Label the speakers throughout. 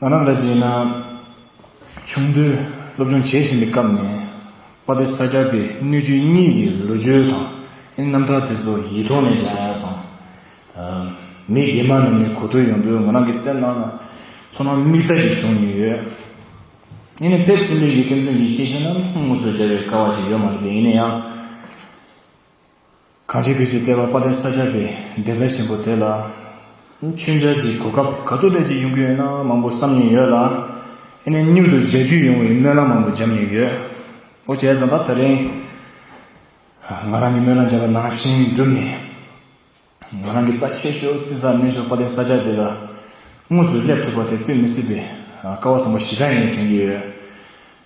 Speaker 1: ང་རང་ལ་བྱས་ན། ཆུང་དུས་སློབ་སྦྱོང་བྱེད་བཞིན་པའི་སྐབས་ནས་དཔའ་སྡེ་ས་སྐྱ་པའི་སྣོད་བཅུད་གཉིས་ཀྱི་ལོ་རྒྱུས་དང་རྣམ་ཐར་དེ་ཚོ་ཡིད་ཐོག་ནས་སྦྱང་ཡག་དང། མི་རྒན་མ་རྣམས་ནས་གོ་ཐོས་ཡོང་དུས་ང་རང་གི་སེམས་ནང་ལ་ཚོར་སྣང་དམིགས་བསལ་ཞིག་བྱུང་ཡོད། ཡིན་ནའི་ཕེབས་བསུ་འདི་ཡི་གེ་མཚན་གྱི་སྐྱེས་ཆེན་རྣམས་ངོ་སོ་བརྒྱ་བའི་ཀ་བ་ཞིག་ཡོད་མ་རེད་པས་ཡིན་ན་ཡང། གངས་ཅན་བོད་ཀྱི་ལྟེ་བ་དཔའ་ལྡན་ས་སྐྱ་པའི་བདེ་རྩ་ཆེན་པོ་དེ་ལ། མཆོད་འཇལ་གྱི་གོ་སྐབས་ག་དུས་རེས་ཀྱི་ཡོང་གི་ཡོད་ན་མང་པོ་བསམ་མྱོང་ཡོད་ལ། ཨེ་ནས་མྱུར་དུ་མཇལ་རྒྱུ་ཡོང་བའི་སྨོན་ལམ་མང་པོ་བརྒྱབ་མྱོང་ཡོད། ཨོ་ཅེ་བཟང་པ་ད་རིང། ང་རང་གི་སྨོན་ལམ་བརྒྱབ་པ་ནང་བཞིན་འགྲུབ་ནས། ང་རང་གི་རྩ་ཆེ་ཤོས་བརྩི་བསམ་དམན་ཤོས་དཔའ་ལྡན་ས་སྐྱ་དེ་ལ། དངོས་སུ་སླེབས་ཐུབ་པ་དེ་ལྟོས་མི་སྲིད་པའི་དཀའ་བ་བཟང་པོ་ཞེ་དྲག་ཡིན་དྲན་གྱི་ཡོད།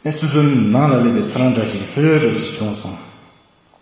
Speaker 1: ཨེ་སུ་སུ་ནང་ལ་སླེབས་པའི་ཚོར་རང་འདྲ་ཞིག་ལྷོད་ལྷོད་འགྲོ་བཞིན་བྱུང་སོང།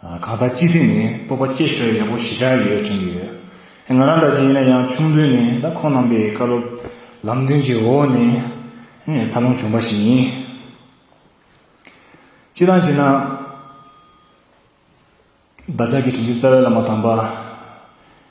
Speaker 1: གང་ཟག་སྤྱི་ཐུས་ནས་སྤོབས་པ་སྐྱེས་ཤོག་ཡག་པོ་ཞི་ཆགས་ཡོད་དྲན་གྱི་ཡོད། ང་རང་འདྲ་བྱས་ཡིན་ན་ཡང་ཆུང་དུས་ནས་ད་ཁོང་རྣམ་པའི་བཀའ་སློབ་ལམ་སྟོན་གྱི་འོག་ནས་འཚར་ལོངས་བྱུང་པ་ཞིག་ཡིན། སྤྱི་དང་བྱས་ན། བདག་ཅག་གི་དྲིན་ཆེན་རྩ་བའི་བླ་མ་དམ་པ།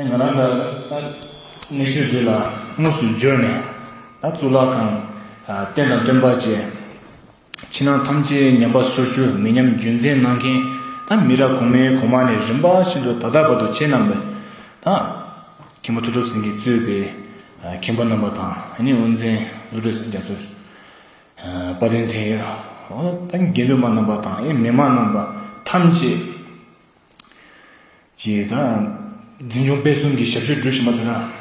Speaker 1: ང་རང་ད་ལྟ་གནས་ཚུལ་འདི་ལ་དངོས་སུ་འབྱོར་ནས་ད་གཙུག་ལག་ཁང་རྟེན་དང་སྟོན་པ་བཅས་ཕྱི་ནང་ཐམས་ཅད་ཉམས་པ་སོར་བཅུ་མི་ཉམས་རྒྱུན་འཛིན་གནང་མཁན་ད་མི་རབས་གོང་མའི་གོང་མ་ནས་རིམ་པ་བཞིན་དུ་ད་ལྟ་བར་དུ་ཁྱེད་རྣམས་པས་ད་མཁན་པོ་ཐུགས་སྟོབས་ཟིན་གྱིས་གཙོས་པའི་མཁན་པོ་རྣམ་པ་དང་ཨ་ནེ་དབུ་མཛེས་བློ་གྲོས་རྒྱ་མཚོ་དཔའ་བརྟན་འཐེན་ཡོད་ད་དགེ་འདུན་པ་རྣམ་པ་དང་ཨེ་མི་མ་རྣམ་པ་ཐམས་ཅད། ཅེས་དང། འཛིན་སྐྱོང་སྤེལ་གསུམ་གྱི་ཞབས་ཞུ་སྒྲུབ་བཞིན་པ་དེ་དག་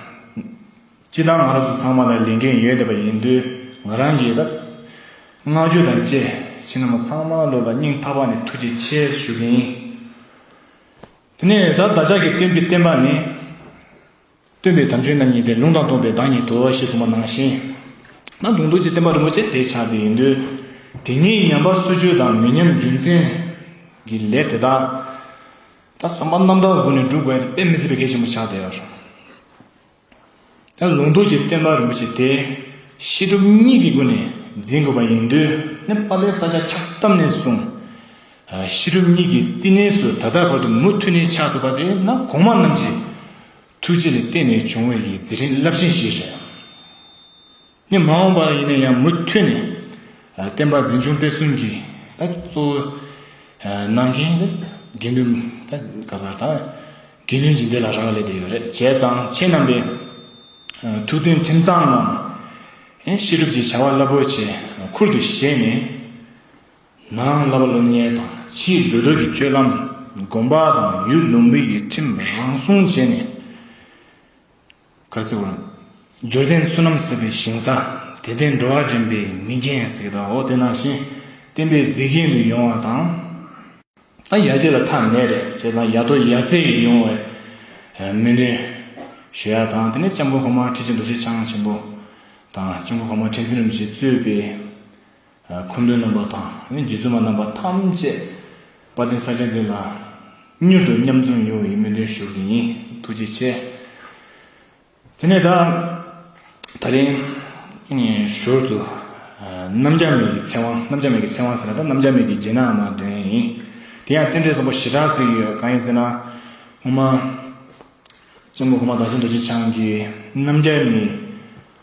Speaker 1: སྤྱི་དང་ང་རོ་ཚོ་ཚང་མ་ལ་ལས་འགན་ཡོད་བསྡད་པ་ཡིན་དུས་ང་རང་གིས་ད་བསྔགས་བརྗོད་དང་བཅས་ཁྱེད་རྣམས་ཚང་མ་ལོ་ལ་སྙིང་ཐག་པ་ནས་ཐུགས་རྗེ་ཆེ་ཞུ་གིན་ཡིན། དེ་ནས་ད་བདག་ཅག་གིས་སྟོན་པའི་བསྟན་པ་ནི། སྟོན་པའི་དམ་ཆོས་རྣམས་ཉིད་དེ་ལུང་དང་སྟོང་པའི་བདག་ཉིད་དོ་ཞེས་གསུངས་པ་ནང་བཞིན། ན་དུང་རྡོ་རྗེ་བསྟན་པ་རིན་པོ་ཆེ་དེ་ཆགས་པའི་ཡིན་དུས། དེ་ཉིད་ཉམས་པ་སུ་ཆོས་དང་མི་ཉམས་རྒྱུ་མཚན་གྱི་ལས་དེ་དག། ད་བསམ་པ་རྣམ་དག་སྒོ་ནས་བསྒྲུབ་དགོས་པས་མི་སྲིད་པའི་གེགས་ཆེན་པོ་ཆགས་ཏེ། ད་ལུང་རྡོ་རྗེ་བསྟན་པ་རིན་པོ་ཆེ་དེ་ཤེས་སྒྲུབ་གཉིས་ཀྱི་སྒོ་ནས་འཛིན་དགོས་པ་ཡིན་དུས། ནས་པཱ་ལའི་ས་ཆ་ཆགས་སྟབས་ནས་བཟུང། ཤེས་རབ་གཉིས་ཀྱི་བསྟི་གནས་སུ་ད་ལྟར་བར་དུ་མུ་མཐུད་ནས་ཆགས་ཐུབ་པ་དེ་ན་གོང་མ་རྣམས་ཀྱི་ཐུགས་རྗེ་ལ་བརྟེན་ནས་བྱུང་བའི་ཡི་རྫི་བྲིན་རླབས་ཆེན་ཞིག་རེད། ནི་མ་འོངས་པར་ཡིན་ན་ཡང་མུ་མཐུད་ནས་བསྟན་པ་འཛིན་སྐྱོང་སྤེལ་གསུམ་གྱི་གཙོ་བོ་གནང་མཁན་དགེ་འདུན་ག་ཟར་དང་དགེ་འདུན་ཇི་འདི་ལ་རག་ལས་དེ་ཡོད་རེད་བྱས་ཙང་ཁྱེད་རྣམ་པའི་ཐུགས་འདུན་ཁྲིམས་གཙང་ངང་ཤེས་སྒྲུབ་ཀྱི་བྱ་བ་རླབས་པོ་ཆེ་ཁུར་དུ་བཞེས་ནས། ནང་བསླབ་པ་སློབ་གཉེར་དང་ཕྱིའི་འགྲོ་འདུག་གི་སྤྱོད་ལམ་སྒོམ་པ་དང་ཡུལ་ལུང་བི་ཡི་ཁྲིམས་རང་སྲུང་བྱས་ནས། གར་སེར་བོ། འབྱོར་ལྡན་བསོད་ནམས་ཟབ་པའི་ཞིང་ས། དད་ལྡན་འགྲོ་བ་འདྲེན་པའི་མི་རྒན་ཟེར་གྱི་དྭོགས་དེ་ནང་བཞིན་བསྟན་པའི་མཛེས་རྒྱན་དུ་ཡོང་བ་དང། ཨ་ཡ་བྱས་ལ་ཐ་མལ་རེ་བྱས་ཙང་ཡ་ཐོག་ཡ་རྩེ་ཡི་ཡོང་བའི་སྨོན་འདུན་ཞུ་ཡག་དང་དེ་ནས་ལྕམ་སྐུ་གོང་མ་ཁྲི་ཆེན་རྡོ་རྗེ་འཆང་ཆེན་པོ་དང་ལྕམ་སྐུ་གོང་མ་ཁྲི་འཛིན་རིན་པོ་ཆེ་གཙོས་པའི། མཁོ་འདོན་རྣམ་པ་དང་རྗེ་བཙུན་མ་རྣམ་པ་ཐམས་ཅད་དཔའ་ལྡན་ས་སྐྱ་འདི་ལ་མྱུར་དུ་མཉམ་འཛོམས་ཡོང་བའི་སྨོན་འདུན་ཞུ་གི་ཡིན་ཐུགས་རྗེ་ཆེ། དེ་ནས་ད། ད་རིང། ཞོར་དུ། རྣམ་སྦྱར་མེད་ཀྱི་ཚེ་དབང་རྣམ་སྦྱར་མེད་ཀྱི་ཚེ་དབང་ཟེར་ན་ད་རྣམ་སྦྱར་མེད་ཀྱི་རྗེས་གནང་མ་འདོན་ཡིན། དེ་ཡང་རྟེན་འབྲེལ་གསུམ་པོ་ཞེ་དྲག་བརྩི་གི་ཡོད་གང་ཡིན་ཟེར་ན། སྔོན་མ། ལྕམ་སྐུ་གོང་མ་བདག་ཆེན་རྡོ་རྗེ་འཆང་གིས་རྣམ་སྦྱར་མེད།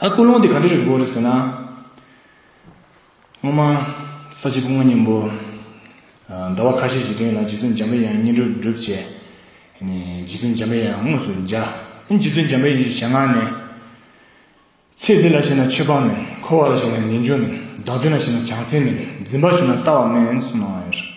Speaker 1: ཨ་སྐུ་ལུང་དེ་ག་འདྲ་རེད་དགོས་རེད་ཟེར་ན། སྔོན་མ་ས་བྱི་སྐུ་ལྔ་སྙིང་པོ། ཟླ་བ་ཁ་ཤས་ཀྱི་སྟེང་ལ་རྗེ་བཙུན་འཇམ་པའི་དབྱངས་བསྙེན་སྒྲུབ་བསྒྲུབས་རྗེས། རྗེ་བཙུན་འཇམ་པའི་དབྱངས་དངོས་སུ་འཇའ། རྗེ་བཙུན་འཇམ་པའི་ཡིད་ཞལ་སྔ་ནས། ཚེ་འདི་ལ་ཞེན་ན་ཆོས་སྤངས་མིན། འཁོར་བ་ལ་ཞེན་ན་ངེས་འབྱུང་མིན། བདག་མདུན་ལ་ཞེན་ན་བྱང་སེམས་མིན། འཛིན་པར་ཞུགས་ན་ལྟ་བ་མིན་གསུངས་གནང་བ་ཡོད།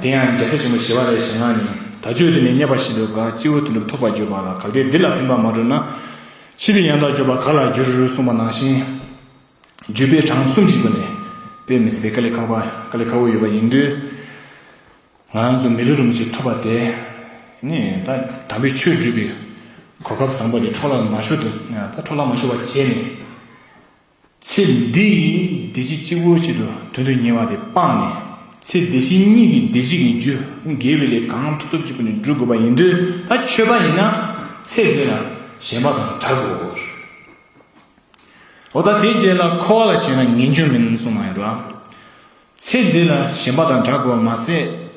Speaker 1: དེ་ཡང་རྒྱལ་སྲས་ཆེན་པོ་ཞི་བ་རའི་ཞལ་སྔ་ནས་ད་ཆོས་དེ་ནས་རྙེད་པ་བཞིན་དུ་དགའ་སྤྱི་བོའི་དོན་གྲུབ་ཐོབ་པར་གྱུར་པ་ལ་གལ་ཏེ་འདི་ལ་ཕན་པ་མ་གྲུབ་ན། ཕྱིས་པའི་ཡང་དག་སྤྱོད་པ་ག་ལ་འགྱུར་གསུངས་པ་ནང་བཞིན། བརྒྱུད་པའི་གྲངས་གསུམ་གྱི་སྒོ་ནས་དཔེ་མི་སྲིད་པའི་ཀཱ་ལི་ཁ་བ་ཀཱ་ལི་ཁ་བོ་ཡོད་པ་ཡིན་དུས། ང་རང་ཚོ་མི་ལུས་རུང་བྱེད་ཐུབ་པ་དེ་ནི་ད་དམ་པའི་ཆོས་སྒྲུབ་པའི་གོ་སྐབས་བཟང་པོ་དེ་འཕྲོ་བརླག་མ་ཤོར་དུ་ད་འཕྲོ་བརླག་མ་ཤོར་བ་བྱས་ནས། ཚེ་འདི་ཡི་བདེ་སྐྱིད་གཅིག་པོ་ཆེད་དུ་དོན་དུ་གཉེར་བ་དེ་སྤངས་ནས་ཚེ་བདེ་གཤེགས་གཉིས་ཀྱི་བདེ་སྐྱིད་ཀྱི་རྒྱུ་འགེལ་བའི་ལས་གང་ཐུབ་ཐུབ་ཅིག་པུ་ནས་བསྒྲུབ་དགོས་པ་ཡིན་དུས་ད་ཆོས་པ་ཡིན་ན་ཚེ་འདི་ལ་གཞན་པ་དང་འདྲ་དགོས། འོ་ད་དེའི་རྗེས་ལ་འཁོར་བ་ལ་བྱས་ན་ངེས་འབྱུང་མིན་གསུངས་མ་ཡོད་པ། ཚེ་འདི་ལ་གཞན་པ་དང་འདྲ་དགོས་པ་མ་ཟད་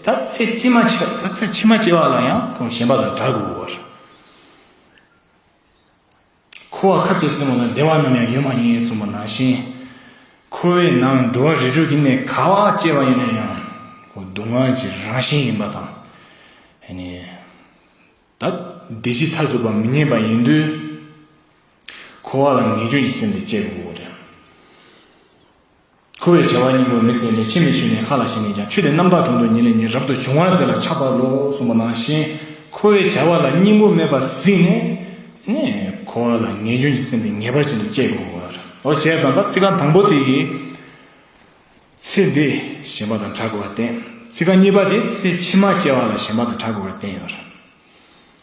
Speaker 1: ད་ཚེ་ཕྱི་མ་ད་ཚེ་ཕྱི་མ་སྐྱེ་བ་ལ་ཡང་གཞན་པ་དང་འདྲ་དགོས། འཁོར་བ་ཁ་ཅིག་བཙུན་མོ་ལ་བདེ་བ་ནམ་ཡང་ཡོད་མ་ཡིན་གསུངས་པ་ནང་བཞིན། འཁོར་བའི་ནང་འགྲོ་བ་རིས་དྲུག་གི་གནས་ག་བ་སྐྱེ་བ་ཡིན་ན་ཡང་སྡུག་བསྔལ་གྱི་རང་བཞིན་ཡིན་པ་དང། ད་བདེ་སྐྱིད་མཐར་ཐུག་པ་མི་རྙེད་པ་ཡིན་དུས། འཁོར་བ་ལ་ངེས་འབྱུང་གི་སེམས་དེ་སྐྱེ་དགོས་པ་རེད། འཁོར་བའི་བྱ་བ་སྙིང་པོ་མི་ཟད་ནས་ཕྱིར་མི་ཞུན་ནས་མཁའ་ལ་ཞིང་ནས་ཀྱང་ཆུད་དེ་རྣམ་དག་དྲུང་དུ་ཉིད་ལས་ཉིད་རབ་ཏུ་འབྱུང་བར་མཛད་ལ་ཕྱག་བཙལ་ལོ་གསུངས་པ་ནང་བཞིན། འཁོར་བའི་བྱ་བ་ལ་སྙིང་པོ་མེད་པར་གཟིགས་ནས། འཁོར་བ་ལ་ངེས་འབྱུང་གི་སེམས་དེ་ངེས་པར་བྱིན་དུ་བཅས་དགོས་པར་འོ་བྱས་ཙང་ད་ཚིག་རྐང་དང་པོ་དེ་ཡིས། ཚེ་འདི་གཞན་པ་དང་གྲགས་དགོས་པར་བསྟན། ཚིག་རྐང་གཉིས་པ་དེས་ཚེ་ཕྱི་མ་སྐྱེ་བ་ལ་གཞན་པ་དང་གྲགས་དགོས་པར་བསྟན་ཡོད།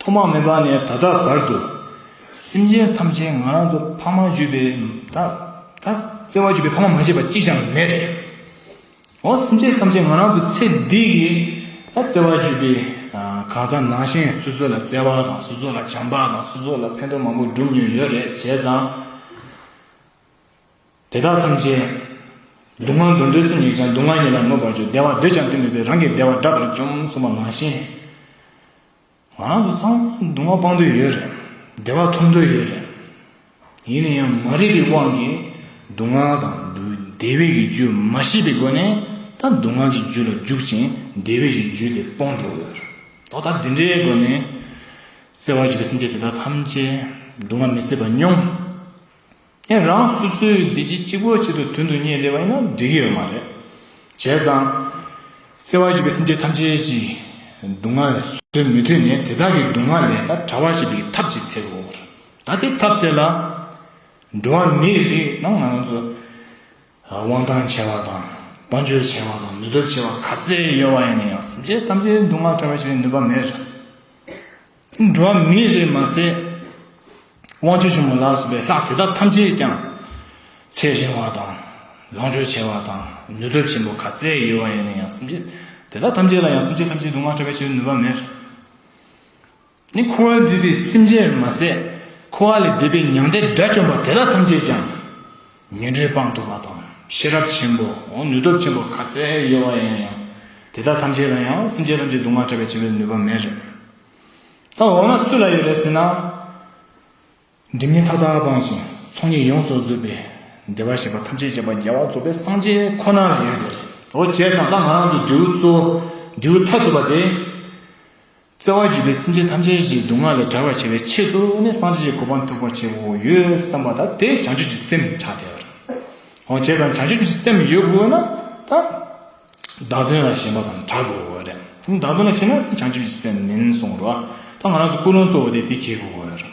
Speaker 1: ཐོག་མ་མེད་པ་ནས་ད་ལྟ་བར་དུ། སེམས་ཅན་ཐམས་ཅད་ང་རང་ཚོ་ཕ་མ་བརྒྱུད་པའི་ད་ལྟ་བརྩེ་བ་བརྒྱུད་པའི་ཕ་མ་མ་བྱས་པ་གཅིག་ཀྱང་མེད་དེ། འོ་སེམས་ཅན་ཐམས་ཅད་ང་རང་ཚོ་ཚེ་འདི་གི་ད་བརྩེ་བ་བརྒྱུད་པའི་གང་ཟག་ནང་བཞིན་སོ་སོ་ལ་བརྩེ་བ་དང་སོ་སོ་ལ་བྱམས་པ་དང་སོ་སོ་ལ་ཕན་ཐོགས་མང་པོ་བསྒྲུབས་མྱོང་ཡོད་རེད་བྱས་ཙང། དེ་དག་ཐམས་ཅད། སྡུག་བསྔལ་འདོད་འདོད་སུ་ཉིད་ཀྱང་སྡུག་བསྔལ་ཉིད་ལ་དམོད་པར་གྱུར་བདེ་བ་འདོད་ཀྱང་འདོད་མི་བདེ་རང་གི་བདེ་བ་དགྲ་དང་བཅོམ་གསུམ་པ་མ་གཞི། ང་རང་ཚོ་ཚང་མ་སྡུག་བསྔལ་སྤང་འདོད་ཡོད་རེད། བདེ་བ་ཐོབ་འདོད་ཡོད་རེད། ཡིན་ན་ཡང་མ་རིག་པའི་དབང་གིས་སྡུག་བསྔལ་དང། བདེ་བའི་ཀྱི་རྒྱུ་མ་ཤེས་པའི་སྒོ་ནས་ད་སྡུག་བསྔལ་གྱི་རྒྱུ་ལ་འཇུག་ཅིང་བདེ་བའི་ཀྱི་རྒྱུ་དེ་སྤོང་འགྲོ་ཡོད་རེད། ད་ལྟ་འདི་འདྲའི་སྒོ་ནས་གསལ་བར་གྱུར་པའི་སེམས་ཅན་དེ་དག་ཐམས་ཅད་སྡུག་བསྔལ་མི་སྲིད་པ་སྙོམས། ཨེ་རང་སུ་སུའི་བདེ་སྐྱིད་གཅིག་པོ་གཅིག་ཏུ་དོན་དུ་གཉེར་བདེ་བ་ཡིན་ན་འགྲིག་གི་ཡོད་མ་རེད། བྱས་ཙང། བརྩེ་བ་ཞུ་བའི་སེམས་ཅན་ཐམས་ཅད་ཀྱི་སྡུག་བསྔལ་བཟོད་མི་ཐུབ་ནས་དེ་དག་གི་སྡུག་བསྔལ་ལས་ཀ་བྲ་བ་བྱེད་པའི་ཐབས་ཅིག་འཚལ་དགོས་པ་རེད། ད་དེ་ཐབས་དེ་ལ། འགྲོ་བ་མི་རིགས་ནང་ང་རང་ཚོ་དབང་ཐང་ཆེ་བ་དང་དཔའ་འབྱོར་ཆེ་བ་དང་ནུས་སྟོབས་ཆེ་བ་ག་ཚད་ཡོད་པ་ཡིན་ན་ཡང་སེམས་ཅན་ཐམས་ཅད་སྡུག་བསྔལ་བྲ་བ་བྱེད་པའི་ནུས་པ་མེད། འགྲོ་བ་མི་རེ་མ་ཟད་དབང་ཕྱུག་ཆེན་མོ་ལ་སོགས་པའི་ལྷ་དེ་དག་ཐམས་ཅད་ཀྱང་ཚེ་རིང་བ་དང་ལོངས་སྤྱོད་ཆེ་བ་དང་ནུས་སྟོབས་ཆེན་པོ་ག་ཚད་ཡོད་པ་ཡིན་ན་ཡང་སེམས་ཅན་དེ་དག་ཐམས་ཅད་ལ་ཡང་སེམས་ཅན་ཐམས་ཅད་སྡུག་བསྔལ་བསྐྲད་པའི་ཕྱིར་ནུས་པ་མེད། ནི་འཁོར་བས་བསྡུས་པའི་སེམས་ཅན་རེ་མ་ཟད་འཁོར་བ་ལས་འདས་པའི་མྱང་འདས་དགྲ་བཅོམ་པ་དེ་དག་ཐམས་ཅད་ཀྱང། ཉོན་སྒྲའི་དཔང་དུ་མ་དང་ཤེས་རབ་ཆེན་པོ། ནུས་སྟོབས་ཆེན་པོ་ག་ཚད་ཡོད་པ་ཡིན་ཡང། དེ་དག་ཐམས་ཅད་ལ་ཡང་སེམས་ཅན་ཐམས་ཅད་སྡུག་བསྔལ་བྲལ་བར་བྱེད་པའི་ནུས་པ་མེད་རེད། ད་འོ་ན་སུ་ལ་ཡོད་རེད་ཟེར་ན། སྒྲིབ་གཉིས་མཐའ་དག་སྤངས་ཤིང་ཚོགས་གཉིས་ཡོངས་སུ་རྫོགས་པའི་བདེ་བར་གཤེགས་པ་ཐམས་ཅད་ཅེས་པ་རྒྱལ་བ་རྫོགས་པའི་སངས་རྒྱས་ཁོ་ན་ལ་ཡོད་དེ་རེད། འོ་བྱས་ཙང་ད་ང་རང་ཚོའི་འབྲས་བུ་གཙོ་བོ་འབྲས་བུ་མཐའ་ཐུག་པ་དེ། བརྩེ་བ་བརྗིད་པས་སེམས་ཅན་ཐམས་ཅད་ཀྱི་སྡུག་བསྔལ་ལས་བྲལ་བར་བྱ་བའི་ཆེད་དུ་ནི་སངས་རྒྱས་ཀྱི་གོ་འཕང་ཐོབ་པར་བྱེད་དགོས་དགོས་ཡོད་བསམ་པ་དང་དེ་བྱང་ཆུབ་ཀྱི་སེམས་ཕྱག་འཚལ་བར་འོ་བྱས་ཙང་བྱང་ཆུབ་ཀྱི་སེམས་ཡོད་དགོས་ན་ད་བདག་དོན་ལ་ཞེན་པ་དང་དྲག་དགོས་དགོས་རེད་དེ་བདག་དོན་ལ་ཞེན་ན་དེ་བྱང་ཆུབ་ཀྱི་སེམས་མིན་གསུངས་རོགས་ད་ང་རང་ཚོ་ཀུན་སློང་གཙོ་བོ་དེ་དེ་གྱིས་དགོས་དགོས་རེད།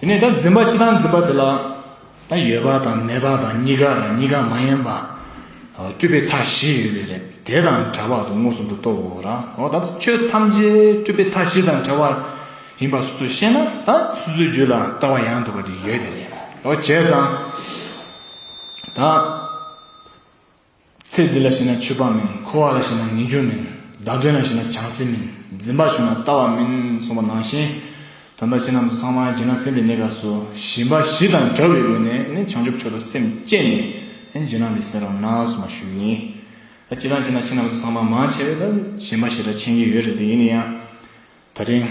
Speaker 1: དེ་ནས་ད་འཛིན་པ་སྤྱི་དང་འཛིན་པ་དེ་ལ། ད་ཡོད་པ་དང་མེད་པ་དང་གཉི་ག་དང་གཉི་ག་མ་ཡིན་པ། སྤྲུལ་པའི་མཐའ་བཞི་ཡོད་པས་རེད་དེ་དང་བྲལ་བར་དུ་མངོན་སུམ་དུ་རྟོགས་དགོས་རང་ཨོ་ད་ལྟ་ཆོས་ཐམས་ཅད་སྤྲུལ་པའི་མཐའ་བཞི་དང་བྲལ་བ་ཡིན་པ་སོ་སོས་ཤེས་ན་ད་སོ་སོའི་རྒྱུད་ལ་ལྟ་བ་ཡང་དག་པ་དེ་ཡོད་དེ་རེད་ཨོ་བྱས་ཙང་ད། ཚེ་འདི་ལ་ཞེན་ན་མཆོད་པ་མིན། འཁོར་བ་ལ་ཞེན་ན་ངེས་འབྱུང་མིན། བདག་དོན་ལ་ཞེན་ན་བྱང་སེམས་མིན། འཛིན་པ་བྱུང་ན་ལྟ་བ་མིན། གསུངས་པ་ནང་བཞིན། ད་ལྟ་ཕྱི་ནང་དུ་ཚང་མ་སྦྱིན་ན་སེམས་ཀྱི་གནས་སྐབས་སུ་ཞེན་པ་བཞི་དང་བྲལ་བའི་སྒོ་ནས་ནི་བྱང་ཆུབ་མཆོག་ཏུ་སེམས་བསྐྱེད་ནས་སྦྱིན་ན་ལེགས་ཟེར་བ་ནང་གསུངས་པ་ཞུ་ཡིན། ད་སྤྱིར་བཏང་བྱས་ན་ཕྱི་ནང་དུ་ཚང་མ་མང་ཆེ་བས་ད་ཞེན་པ་ཞེ་དྲག་ཆེན་གྱི་ཡོད་རེད་དེ་ཡིན་ན་ཡང་ད་རིང།